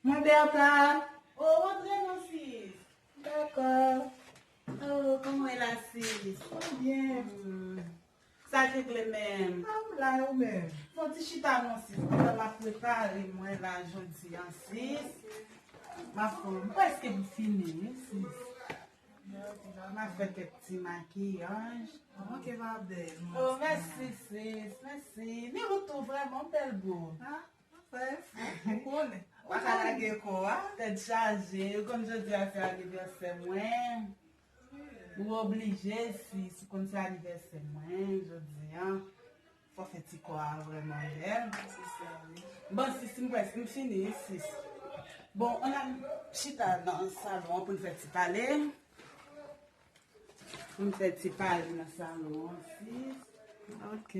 Mwen Bertha. O, antre non sis. Dakò. O, kòman e la sis? Mwen byen. Sa ki vle menm? Ah m la yo menm. Fon ti chita non sis pandan map prepare mwen la jodi an sis. Map fon m preske m fini wi sis. Jodi an map fè kèk ti makiyaj. Ou manke va bèl mwen. Oh mèsi sis mèsi. Ni ou tou vrèman ou bèl boo. Ah ou fè efò ou konnen. Ou paka lage kò a. Tèt chaje ou konn jodi a se anivèsè mwen. Ou oblije si si konn se anivèsè mwen jodi an fò fè ti kò a vrèman bèl. Bon sis m prèske m fini sis. Bon an nan chita nan salon an pou n fè ti pale. Pou n fè ti pale nan salon an sis. Ok.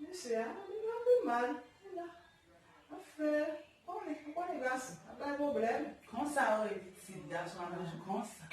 Mesye a vin ap ri mal. Li la ap fè konnen. Ou konnen gason ap bay pwoblèm. Konsa ou rele pitit gason an toujou konsa.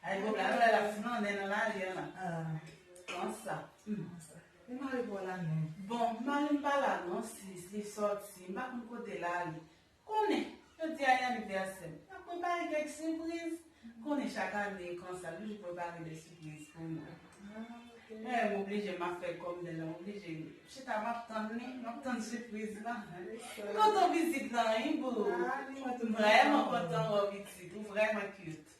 Bay pwoblèm. Alò lè l ap flannen nan lari an lan. Konsa. E mari pa w la menm? Bon, mari m pa la non sis. Li sòti. M pa konn kote l ale. Konnen, jodi a e anivèsè m. Nap prepare kèk sipriz. Konnen chak ane konsa m toujou prepare de sipriz pou nou. Lè m oblije map fè kòm lè nan m oblije m chita map tann li, map tann sipriz la. M kontan w pitit lan wi boo. M vrèman kontan wè w pitit, ou vrèman cute.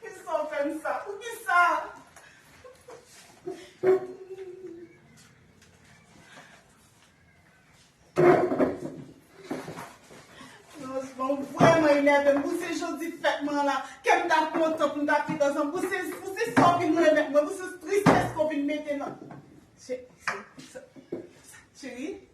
Poukisa w fè m sa? Poukisa? Franchman, ou vrèman enève m. Pou se jodi fèt mwen an la, kè m ta kontan pou m ta pi danse. Pou se sa w vin remèt mwen. Pou se tristès ke w vin mete nan. Cheri?